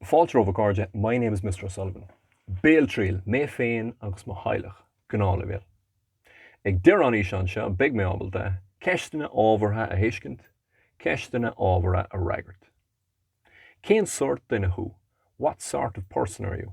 Fáilte romhaibh a chairde, my name is Mister O'Sullivan. Béaltriail, mé féin agus mo theaghlach, gnáthleibhéal. Ag deireadh an fhíseáin seo beidh mé ábalta ceisteanna ábhartha a thuiscint, ceisteanna ábhartha a fhreagairt. Cén sórt duine thú? What sort of person are you?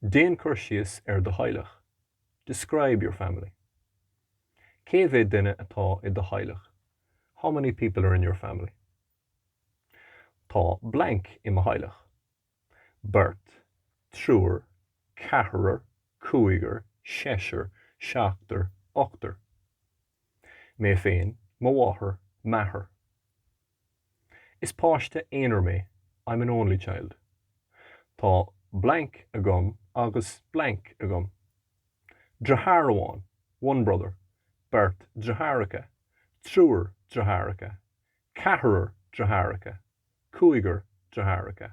Déan cur síos ar do theaghlach. Describe your family. Cé mhéad duine atá i do theaghlach? How many people are in your family? Tá blank i mo theaghlach. Beirt, triúr, ceathrar, cúigear, seisear, seachtar, ochtar. Mé féin, mo mháthair, m'athair. Is páiste aonair mé, I'm an only child. Tá blank agam agus blank agam. Deartháir amháin, one brother, beirt deartháireacha, triúr deartháireacha, ceathrar deartháireacha, cúigear deartháireacha.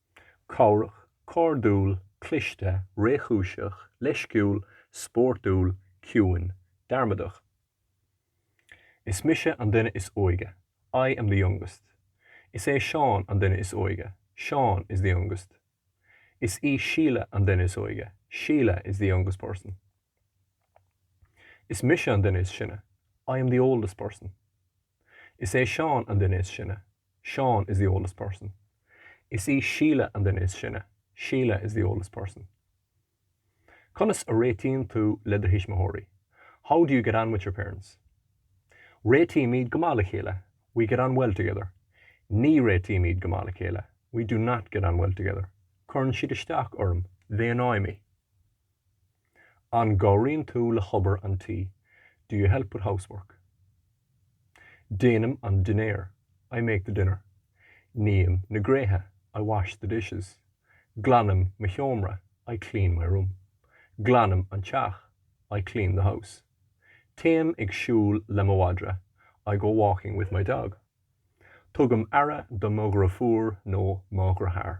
cabhrach, cairdiúil, cliste, réchúiseach, leisciúil, spórtúil, ciúin, dearmadach. Is mise an duine is óige, I am the youngest. Is é Seán an duine is óige, Seán is the youngest. Is í Síle an duine is óige, Síle is the youngest person. Is mise an duine is sine, I am the oldest person. Is é Seán an duine is sine, Seán is the oldest person. Is í Síle an duine is sine. Sheila is the oldest person. Conas a réitíonn tú le do thuismitheoirí? How do you get on with your parents? Réitímid go maith le chéile. We get on well together. Ní réitímid go maith le chéile. We do not get on well together. Cuireann siad isteach orm. They annoy me. An gcabhraíonn tú le hobair an tí? Do you help with housework? Déanaim an dinnéar. I make the dinner. Ním na gréithe. I wash the dishes. Glanaim mo sheomra. I clean my room. Glanaim an teach. I clean the house. Téim ag siúl le mo mhadra. I go walking with my dog. Tugaim aire do mo dheirfiúr nó mo dheartháir.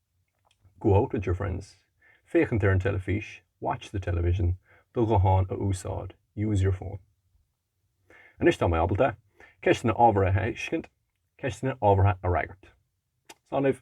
Go out with your friends, féachaint ar an teilifís, watch the television, do ghuthán a úsáid, use your phone. Anois tá mé ábalta ceisteanna ábhartha a thuiscint, ceisteanna ábhartha a fhreagairt. Slán libh.